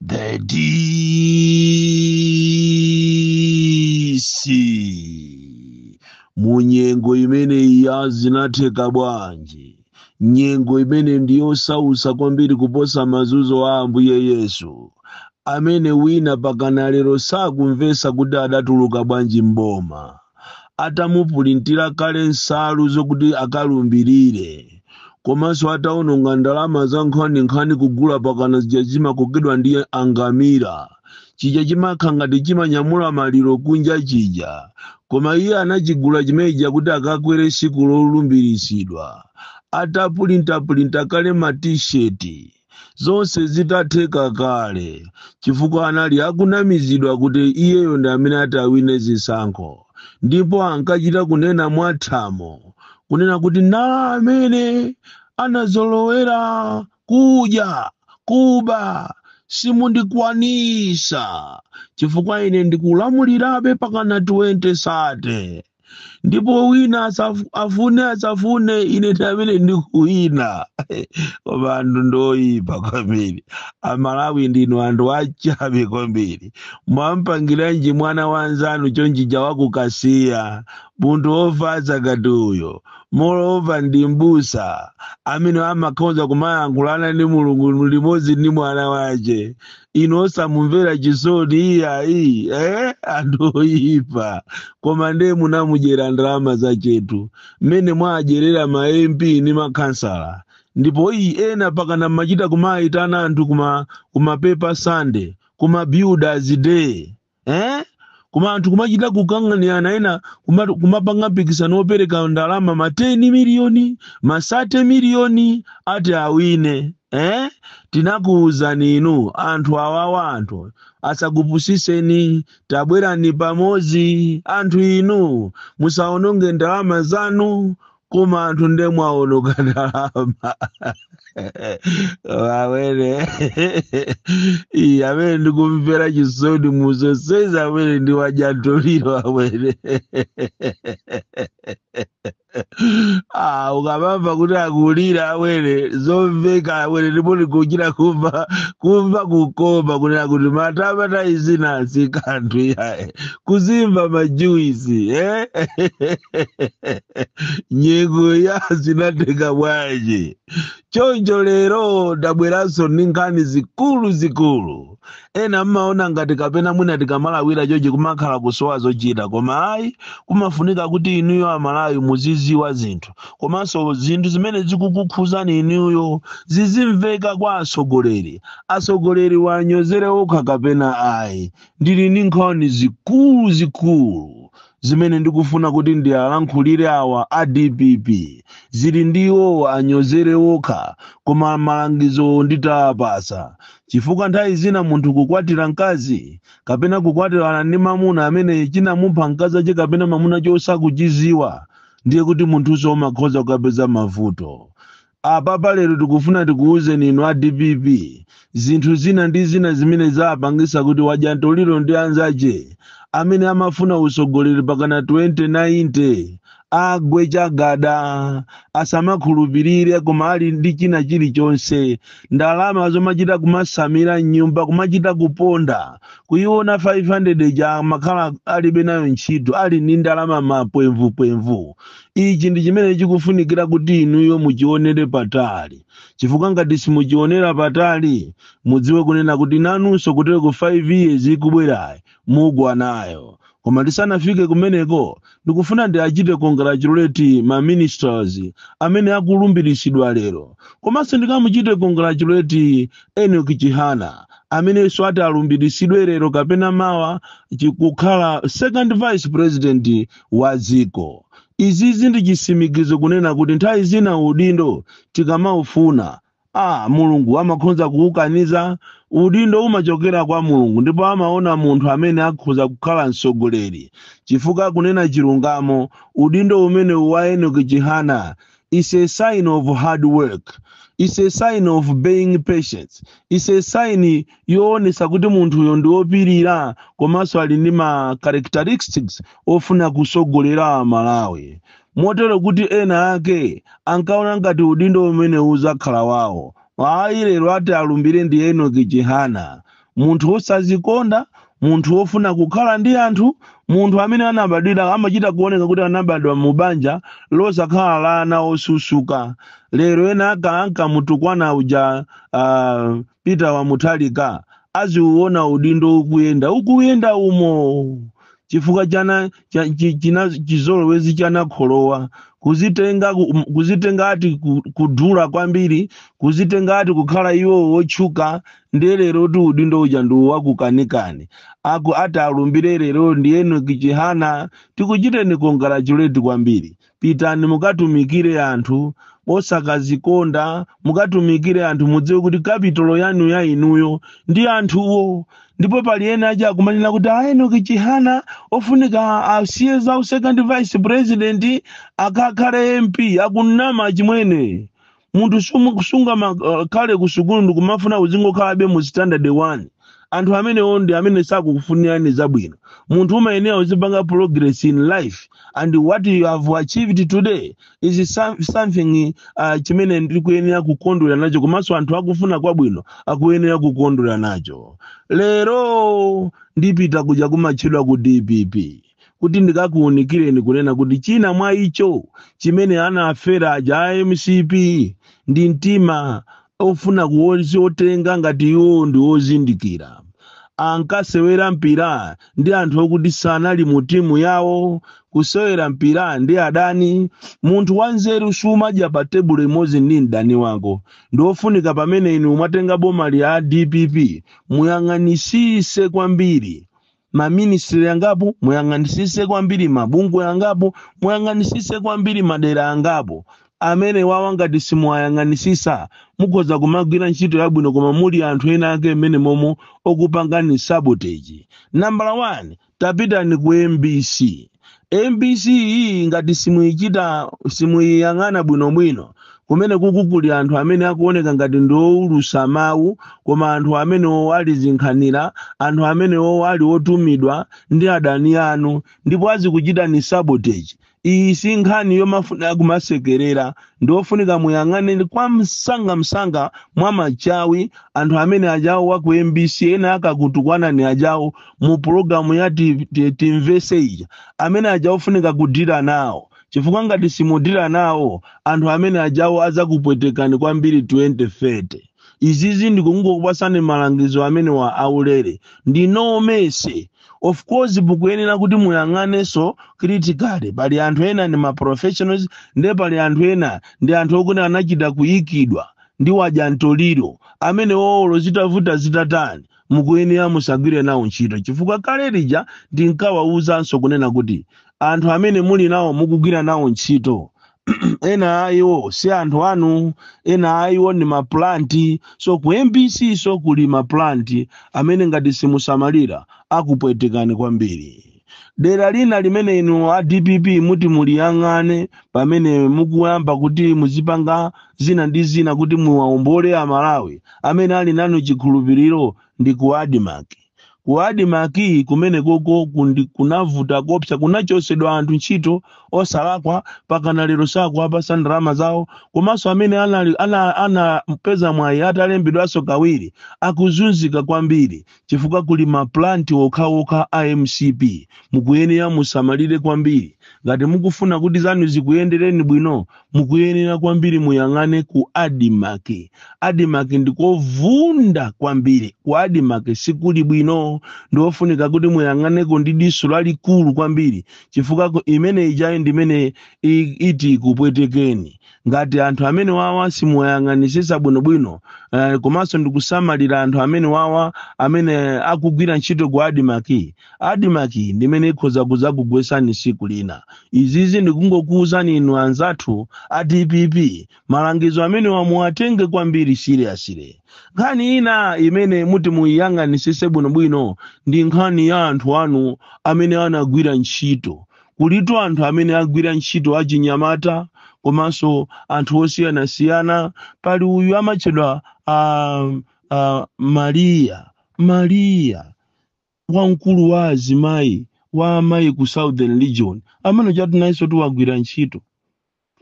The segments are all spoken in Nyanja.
The DC munyengo imeneyi ya zinatheka bwanji nyengo imene ndiyosausa kwambiri kuposa mazunzo a ambuye yesu amene wina pakana lero sakumvesa kuti adatuluka bwanji m'boma atamupulintira kale nsalu zokuti akalumbirire komanso ataononga ndalama za nkhaninkhani kugula pakana chija chimakokedwa ndi angamira chija chimakhala ngati chimanyamula maliro kunja chija koma iye anachigula chimeneja kuti akakwere siku lolumbiritsidwa atapulintapulinta kale matisheti zonse zitatheka kale chifukwa anali akunamizidwa kuti iyeyo ndi amene ati awine zisankho ndipo ankachita kunena mwathamo kunena kuti na amene anazolowera kudya kuba simundikwanisa chifukwa ine ndikulamulirabe pakana 2030 ndipo wina asafu- afune asafune ine ndi amene ndikuwina koma anthu ndoyipa kwambiri amalawi ndinu anthu achabe kwambiri mwampangiranji mwana wanzanu chonchija wa ku Kasiya munthu wofatsa ngati uyo moreover ndi mbusa amene amakhoza kumayankhulana ndi mulungu limodzi ndi mwana wace inu osamumvera chisoni iyayi eh? anthu oyipa koma ndiye munamudyera ndalama zachetu mmene mwadyerera ma mp ndi makhansala ndipo ii ena pakana mumachita kumayitana anthu kuma kuma paper Sunday kuma builders day eh? koma anthu kumachita kukanganirana ena kuma- kumapanga mpikisano wopereka ndalama ma 10 miliyoni ma 30 miliyoni ati awine eh? tinakuwuzani inu anthu awawa anthu asakupusiseni tabwerani pamodzi anthu inu musaononge ndalama zanu koma anthu nde mwaononga ndalama awene amene ndikumvera chisoni mu zonsezi awene ndi wajantoliro awene Ah, ukamamva kuti akulira awene zomveka awene ndipo ndikuchita kumva kumva kukoma kunena kuti matama taizina sikanthu iyayi kuzimva majuisi eh? nyengo ya zinatheka bwanji choncho lero ndabweranso ndi nkhani zikulu zikulu ena mmaona ngati kapena mwina tikamalawira chochi kumakhala kusowa zochita koma ayi kumafunika kuti inuyo amalawi muziziwa zinthu komanso zinthu zimene zikukukhuzani inuyo zizimveka kwa atsogoleri atsogoleri wanyozere okha kapena ayi ndili ndi nkhani zikulu zikulu zimene ndikufuna kuti ndialankhulire awa a dpp zili ndi iwowo anyozere okha koma malangizo nditawapasa chifukwa nthawi zina munthu kukwatira mkazi kapena kukwatirana ndi mamuna amene chinamupha mkazi ache kapena mamuna chosakuchiziwa ndiye kuti munthunso umakhoza kukapeza mavuto Apapa lero tikufuna tikuwuzeni inu a dpp zinthu zina ndi zina zimene zapangisa kuti wadya ntoliro ndi anzache amene amafuna utsogoleri pakana 2090 agwe chagada asamakhulupirire koma ali ndi china chilichonse ndalama zomachita kumasamira mnyumba kumachita kuponda kuyiona 500 ija makhala alibe nayo ntchito ali ndi ndalama mapwemvupwemvu ichi ndi chimene chikufunikira kuti inuyo muchionere patali chifukwa ngati simuchionera patali mudziwe kunena kuti nanunso kuteroku 5 years ikubwerayi mugwa nayo koma tisanafike kumeneko ndikufuna ndiachite congratulate ma ministers amene akulumbiritsidwa lero komanso ndikamuchite congratulate Enoch Chihana amenenso ati alumbiritsidwe lero kapena mawa kukhala second vice president wa dziko. Izizi ndi chisimikizo kunena kuti nthawi zina udindo tikamaufuna Mulungu amakhonza kukukaniza. Udindo umachokera kwa Mulungu ndipo amaona munthu amene akhoza kukhala mtsogoleri chifukwa kunena chilungamo udindo umenewu wa Enoch Chihana is a sign of hard work is a sign of being patient is a sign yoonesa kuti munthuyo ndi wopirira komanso ali ndi ma characteristics ofuna kusogolera amalawi motero kuti ena ake ankaona ngati udindo umene uzakhala wawo ayi lero ati alumbire ndi Enoch Chihana munthu wosazikonda munthu wofuna kukhala ndi anthu munthu amene anabadwira amachita kuoneka kuti anabadwa mu banja losakhala la ana osusuka lero ena ake ankamutukwana uja uh, Peter wa Mutharika aziuona udindo ukuyenda ukuyenda umo chifukwa chana cha- chi- china chizolowezi chonyanyira kuzitenga ku- kuzitenga ati ku- kudula kwambiri kuzitenga ati kukhala iwo wotchuka ndiye lero ti udindo uja ndi wakukanikani aku ati alumbire lero ndi enoki chihana tikuchiteni congratulate kwambiri pitani mukatumikire anthu osakazikonda mukatumikire anthu mudziwe kuti kapitolo yanu ya inuyo ndi anthuwo ndipo pali ena aja akumanena kuti a enoki chihana ofunika asiye za second vice president akakhale mp akunama chimwene munthu sumu- sungamakhale ku sukulu ndikumafuna uzingokhalabe mu standard one anthu amenewo ndi amene sakukufunirani zabwino munthu umayenera uzipanga progress in life and what you have achieved today is some- something uh, chimene ndikuyenera kukondwerera nacho komanso anthu akufuna kwabwino akuyenera kukondwerera nacho lero ndipita kuja kumatchedwa ku dpp kuti ndikakuunikireni kunena kuti china mwa icho chimene anafera aja a mcp ndi mtima ofuna kuotenga ngati iwo ndi ozindikira ankasewera mpira ndi anthu okuti sanali mu timu yawo kusewera mpira ndi adani munthu wanzeru sumadya pa tebulo imodzi ndi mdani wako ndi ofunika pamene inu mwatenga bomali a dpp muyang'anisise kwambiri maministry angapo muyang'anisise kwambiri mabungwe angapo muyang'anisise kwambiri madera angapo amenewawa ngati simuwayang'anisisa mukhoza kumagwira ntchito yabwino koma muli anthu ena ake mmenemomo okupangani sabotage nambala 1 tapitani ku mbc mbc iyi ngati simuichita simuiyang'ana bwinobwino kumenekuku kuli anthu amene akuoneka ngati ndi owulusa mawu koma anthu amenewo ali zinkhanira anthu amenewo ali otumidwa ndi adani anu ndipo azikuchitani sabotage iyi si nkhani yomafuna kumasekerera ndi ofunika muyang'ane ndi kwa msangamsanga mwa machawi anthu amene ajawo wa ku mbc ena ankakutukwanani ajawo mu pulogalamu ya ti- ti- timvese ija amene aja ofunika kudira nawo chifukwa ngati simudira nawo anthu amene ajawo azakupwetekani kwambiri 2030 izizi ndikungokupasani malangizo amenewa aulere ndi no mercy of course mukuyenera kuti muyang'anenso critically pali anthu ena ndi ma professionals nde pali anthu ena ndi anthu okuti anachita kuyikidwa ndi wadya mtoliro amenewo olo zitavuta zitatani mukuyenera musagwire nawo ntchito chifukwa kale lija ndinkawawuzanso kunena kuti anthu amene muli nawo mukugwira nawo ntchito ena a iwo si anthu anu ena a iwo ndi maplanti so ku mbc so kuli maplanti amene ngati simusamalira akupwetekani kwambiri dera lina limene inu a dpp muti muliyang'ane pamene mukuyamba kuti muzipanga zina ndi zina kuti muwaombole amalawi amene ali nanu chikhulupiriro ndi ku admarc Ku Admarc kumenekoko kundi- kunavuta kopsa, kunachotsedwa anthu ntchito osalakwa, pakana lero sakuwapatsa ndalama zawo, komanso amene anali- ana- anapeza mwayi atalembedwanso kawiri akuzunzika kwambiri chifukwa kuli ma plant okhaokha a mcp. Mukuyenera musamalire kwambiri ngati mukufuna kuti zanu zikuyendereni bwino, mukuyenera kwambiri muyang'ane ku admarc admarc ndikovunda kwambiri ku admarc sikuli bwino ndiofunika kuti muyang'aneko ndi diso lalikulu kwambiri chifukwa ku- imene ijayi ndimene i- iti ikupwetekeni ngati anthu amene wawa simuwayang'anisisa bwinobwino eh, komanso ndikusamalira anthu amene wawa amene akugwira ntchito ku admarc Admarc ndi imene ikhoza kudzakugwetsani tsiku lina. Izizi ndikungokuuzani inu anzathu a dpp malangizo amenewa muwatenge kwambiri seriously. Nkhani ina imene muti muiyang'anitsitse bwinobwino ndi nkhani ya anthu anu amene anagwira ntchito. Kulitu anthu amene agwira ntchito achinyamata komanso anthu osiyanasiyana. Pali uyu amatchedwa a, a, Maria. Maria. wamkulu wa azimayi wa amayi ku southern region amene ujatu nayensotu wagwira ntchito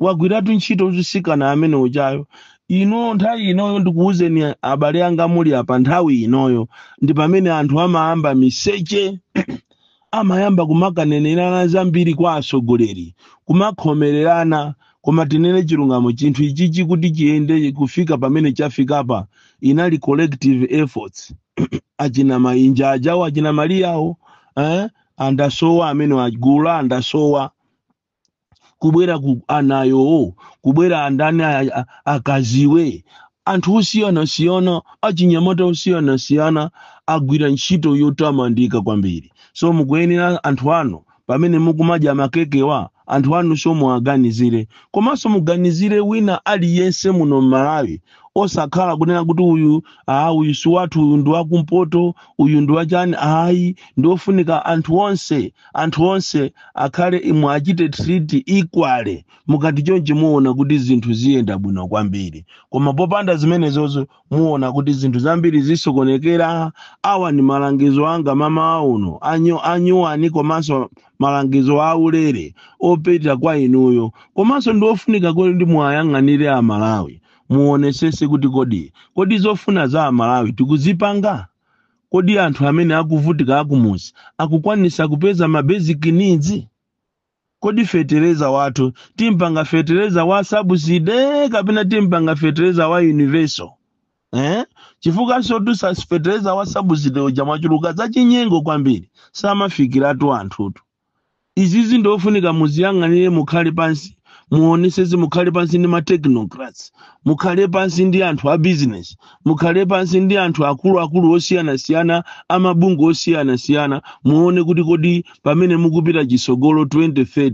wagwiratu ntchito mtsikana amene ujayo ino nthawi inoyo ndikuwuzeni abale anga muli apa nthawi inoyo ndi pamene anthu amayamba miseche amayamba kumakanenerana zambiri kwa atsogoleri kumakhomererana koma tinene chilungamo chinthu ichichi kuti chiyende kufika pamene chafikapa inali collective efforts achina mainja ajawo achina mariawo eh? andasowa amene agula andasowa kubwera ku anayowo kubwera andani a- a- akaziwe anthu osiyanasiyana achinyamata osiyanasiyana agwira ntchito yotamandika kwambiri so mukuyenera anthu ano pamene mukumadya makekewa anthu anunso muwaganizire komanso muganizire wina aliyense muno mmalawi osakhala kunena kuti uyu aa uyu si wathu uyu ndi wakumpoto uyu ndi wachani ayi ndiofunika anthu onse anthu onse akhale muwachite treat equally mukati chonchi muona kuti zinthu ziyenda bwino kwambiri koma popanda zimenezozo muona kuti zinthu zambiri zisokonekera awa ndi malangizo anga mamawa uno anyuwani komanso malangizo aulere opita kwa inuyo komanso ndi ofunika kuti ndi muwayang'anire amalawi muonesese kuti kodi kodi zofuna za amalawi tikuzipanga kodi anthu amene akuvutika akumuzi akukwanisa kupeza ma basic needs Kodi fetereza wathu timpanga fetereza wa subsidy kapena timpanga fetereza wa universal? Eh? Chifukwa nsotu sa- fetereza wa subsidy uja mwachuluka zachinyengo kwambiri. Samafikiratu anthutu. Izizi ndi ofunika muziyang'anire mukhale pansi muonesese mukhale pansi ndi ma technocrats mukhale pansi ndi anthu a business mukhale pansi ndi anthu akuluakulu osiyanasiyana amabungwe osiyanasiyana muone kuti kodi pamene mukupita chisogolo 2030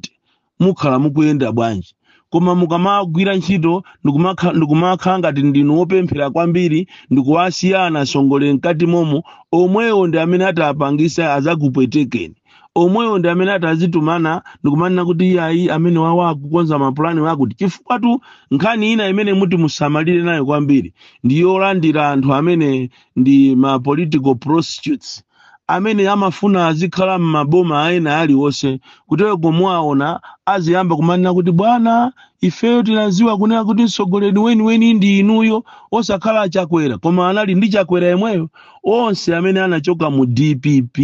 mukhala mukuyenda bwanji koma mukamagwira ntchito ndikumakha- ndikumakhala ngati ndinu wopemphera kwambiri ndikuwasiya anasongole mkati momo omwewo ndi amene atapangisa azakupwetekeni omwewo ndi amene atazitumana ndikumanena kuti iyayi amenewawa akukonza mapulani wakuti chifukwatu nkhani ina imene muti musamalire nayo kwambiri ndi yolandira anthu amene ndi ma political prostitutes amene amafuna azikhala m'maboma ena aliwonse kuteroko muwaona aziyamba kumanena kuti bwana ifeyo tinaziwa kunena kuti mtsogoleri weniweni ndi inuyo osakhala achakwera koma anali ndi chakwera yemweyo onse amene anachoka mu dpp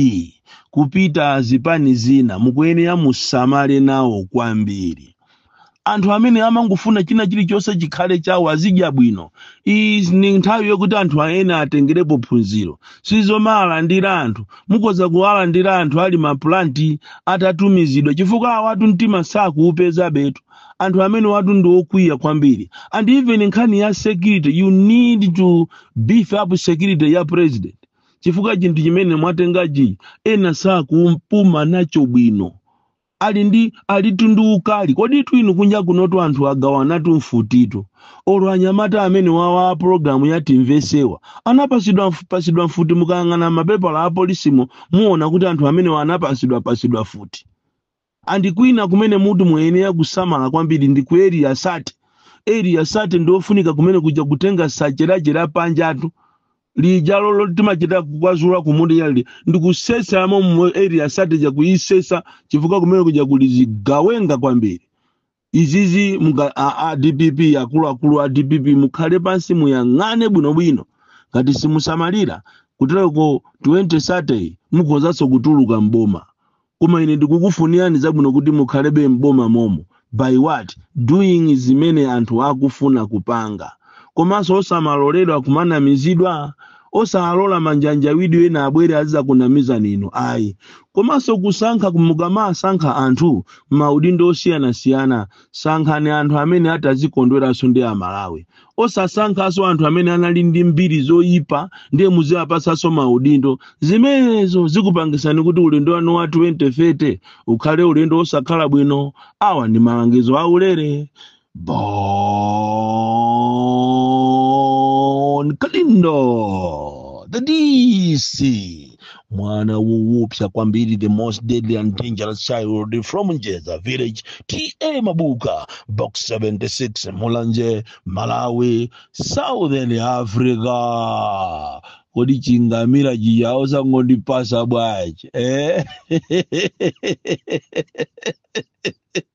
kupita zipani zina mukuyenera musamale nawo kwambiri anthu amene amangofuna china chilichonse chikhale chawo azidya bwino iyi ni nthawi yokuti anthu ena atengerepo phunziro sizomawalandira anthu mukoza kuwalandira anthu ali mapulanti atatumizidwa chifukwa awatu mtima sakuupezabetu anthu amenewatu ndi okwiya kwambiri and even nkhani ya security you need to beef up security ya president chifukwa chinthu chimene mwatengachi ena sakupuma nacho bwino ali ndi alitu ndi ukali koditu inu kunja kunotu anthu agawanatu mfutitu olo anyamata amenewawa a pologalamu ya timvesewa anapasidwa mf- pasidwa mfuti mukayang'ana mapepala a polisimo muona kuti anthu amenewa anapasidwa pasidwa mfuti And kwina kumene muti muyenera kusamala kwambiri ndi ku area 30. Area 30 ndi ofunika kumene kuja kutenga sache sache la panjatu lija lotimachita kukwazula kumuti lija ndi kusesamo mu area 30 ja kuisesa chifukwa kumene kuja kuli zigawenga kwambiri. izizi muka- a a dpp akuluakulu a dpp mukhale pansi muyang'ane bwinobwino ngati simusamalira kuteroko 2030 mukhozanso kutuluka mboma koma ine ndikukufunirani zabwino kuti mukhalebe mboma momo by what doing zimene anthu akufuna kupanga komanso osamaloledwa kumanamizidwa osalola manjanjawidwe ena abwere azizakunamizani inu ayi komanso kusankha mukamasankha anthu maudindo osiyanasiyana sankhani anthu amene atazikondweranso ndi amalawi osasankhanso anthu amene anali ndi mbiri zoyipa ndiye muziwapatsanso maudindo zimenezo zikupangisani kuti ulendo wanu wa 2030 ukhale ulendo osakhala bwino awa ndi malangizo aulere Bon Kalindo, the DC, mwana woopsa kwambiri, the most deadly and dangerous child from Njeza village, TA Mabuka, box 76, Mulanje, Malawi, Southern Africa. Kodi chingamira chawo sangondipasa bwanji eh?